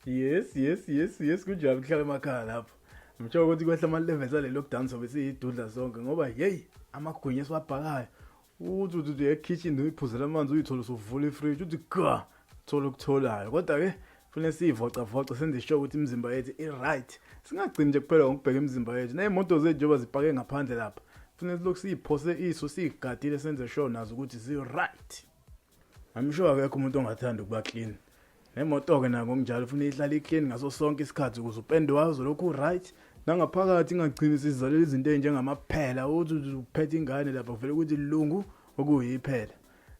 yes yes yes yes kunjalo kuhlala emakhaya lapho ngitshela ukuthi kwehla ama-levels ale lockdown sobe siyidudla sonke ngoba yeyi amagwinya esiwabhakayo uthi uthi uthi ekitchen uyiphuzela amanzi uyithole usuvula ifridge uthi ga thola okutholayo kodwa-ke kufanele siyivocavoce senze isho ukuthi imizimba yethu i-right singagcini nje kuphela ngokubheka imizimba yethu ney'moto zethu njengoba zipake ngaphandle lapha kufanele silokhu siyiphose iso siyigadile senze sure nazo ukuthi zi-right I'm sure akekho umuntu ongathanda ukuba clean. Nemoto-ke nako kunjalo ufuna ihlale i-clean ngaso sonke isikhathi ukuze upende wayo uzolokhu u-right. Nangaphakathi ingagcini isizalela izinto ezinjengamaphela uthi uthi uphethe ingane lapha kuvele ukuthi lungu okuyiphela.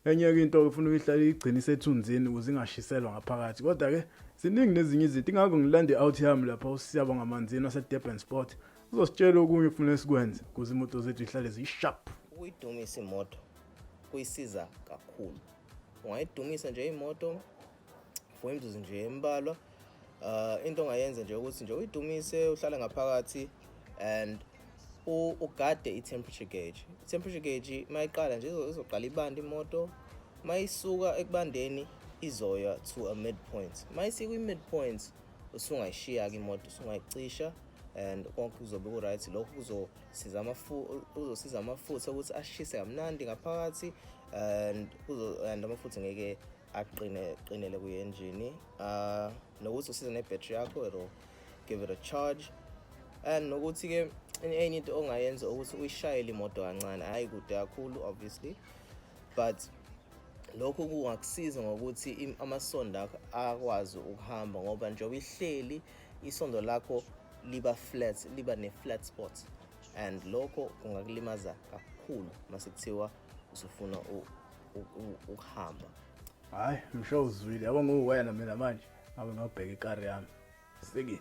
Enye-ke into ufuna uyihlale igcine isethunzini ukuze ingashiselwa ngaphakathi. Kodwa-ke ziningi nezinye izinto ingakho ngilanda i-out yami lapha usiyabo ngamanzini wasedurban sport uzositshela okunye okufanele sikwenze ukuze imoto zethu ihlale ziyi-sharp. Ukuyidumise imoto kuyisiza kakhulu ungayidumisa nje imoto for imzuzu nje embalwa uh, into ongayenza nje ukuthi nje uyidumise uhlale ngaphakathi and ugade i-temperature gauge i-temperature gauge uma iqala nje izoqala ibanda imoto uma isuka ekubandeni izoya to a midpoint uma isikwi-midpoint usungayishiya-ke imoto usungayicisha and konke kuzobe ku-right lokho siza uzosiza amafutha ukuthi ashise kamnandi ngaphakathi and and amafutha ngeke aqine qinele kuye engine uh nokuthi usiza ne battery yakho it'll give it a charge and nokuthi ke enye into ongayenza ukuthi uyishayele imoto kancane hayi kude kakhulu obviously but lokhu kungakusiza ngokuthi amasondo akho akwazi ukuhamba ngoba njengoba ihleli isondo lakho liba flat liba ne-flat spot and lokho kungakulimaza kakhulu mase kuthiwa usufuna ukuhamba hayi msho uzwile yabo nguwena mina manje ngabe ngabheka ikari yami sikini